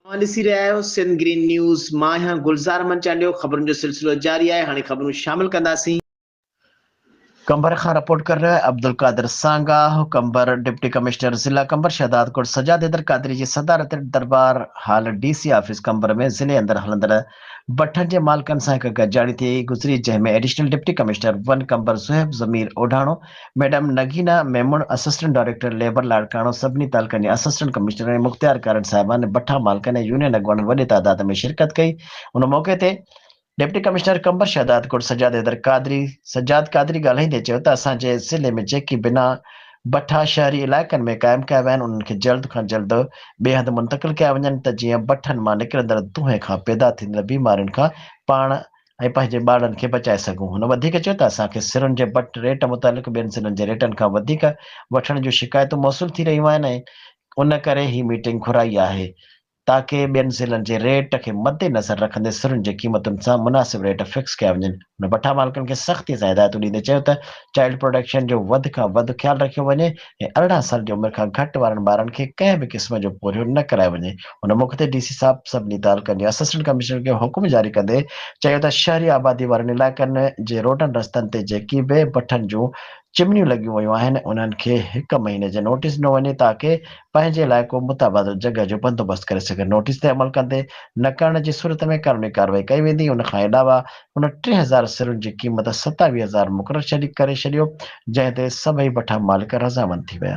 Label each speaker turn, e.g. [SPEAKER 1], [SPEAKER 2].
[SPEAKER 1] اوهان ڏسي رهيا آهيو سنڌ گرين نيوز مان آهيان گلزار امن چانڊيو خبرن جو سلسلو جاري آهي هاڻي خبرون شامل ڪنداسين. قمبر کان رپورٽ ڪري رهيو آهي عبدالقادر سانگاهه قمبر ڊپٽي ڪمشنر ضلع قمبر شهداد ڪوٽ سجاد حيدر قادري جي صدارت هيٺ Darbar hall D C office Qambar ۾ ضلعي اندر هلندڙ بٺن جي مالڪن سان هڪ گڏجاڻي ٿي گذري جنهن ۾ additional deputy commissioner one Qambar Suhaib Zameer Odhano, madam Nagina Memon, assistant director labour Larkana, سڀني تعلقن جي اسسٽنٽ ڪمشنرن ۽ مختيارڪارن صاحبان، بٺا مالڪن ۽ يونين اڳواڻن وڏي تعداد ۾ شرڪت ڪئي ان موقعي تي ڊپٽي ڪمشنر قمبر شهدادڪوٽ سجاد حيدر قادري، سجاد قادري، ڳالهائيندي چيو ته اسان جي ضلعي ۾ جيڪي بنا. بٺا شهري علائقن ۾ قائم ڪيا ويا آهن انهن کي جلد کان جلد ٻئي هنڌ منتقل ڪيا وڃن ته جيئن بٺن مان نڪرندڙ دونهين کان پيدا ٿيندڙ بيمارين کان پاڻ ۽ پنهنجي ٻارڙن کي بچائي سگهون هن وڌيڪ چيو ته اسان کي سرن جي بٺ ريٽ متعلق ٻين ضلعن جي ريٽن کان وڌيڪ وٺڻ جون شڪايتون موصول ٿي رهيون آهن ۽ ان ڪري هي ميٽنگ گهرائي آهي تاڪه ٻين ضلعن جي ريٽ کي مدنظر رکندي سرن جي قيمتن سان مناسب ريٽ فڪس ڪيا وڃن. هن بٺا مالڪن کي سختي سان هدايتون ڏيندي چيو ته چائلڊ پروٽيڪشن جو وڌ کان وڌ خيال رکيو وڃي ۽ ارڙهن سال جي عمر کان گهٽ وارن ٻارن کي ڪنهن به قسم جو پورهيو نه ڪرايو وڃي. هن موقعي تي ڊي سي صاحب سڀني تعلقن جي اسسٽنٽ ڪمشنرن کي حڪم جاري ڪندي چيو ته شهري آبادي وارن علائقن جي روڊن رستن تي جيڪي به بٺن جون چمنيون لڳيون ويون آهن انهن کي هڪ مهيني جي نوٽيس ڏنو وڃي تاڪه پنهنجي لاء ڪو متبادل جڳهه جو بندوبست ڪري سگهن نوٽيس تي عمل ڪندي نه ڪرڻ جي صورت ۾ قانوني ڪارروائي ڪئي ويندي ان کان علاوه هن ٽي هزار سرن جي قيمت ستاويهه هزار مقرر ڪري ڇڏيو جنهن تي سڀئي بٺا مالڪ رضامند ٿي ويا.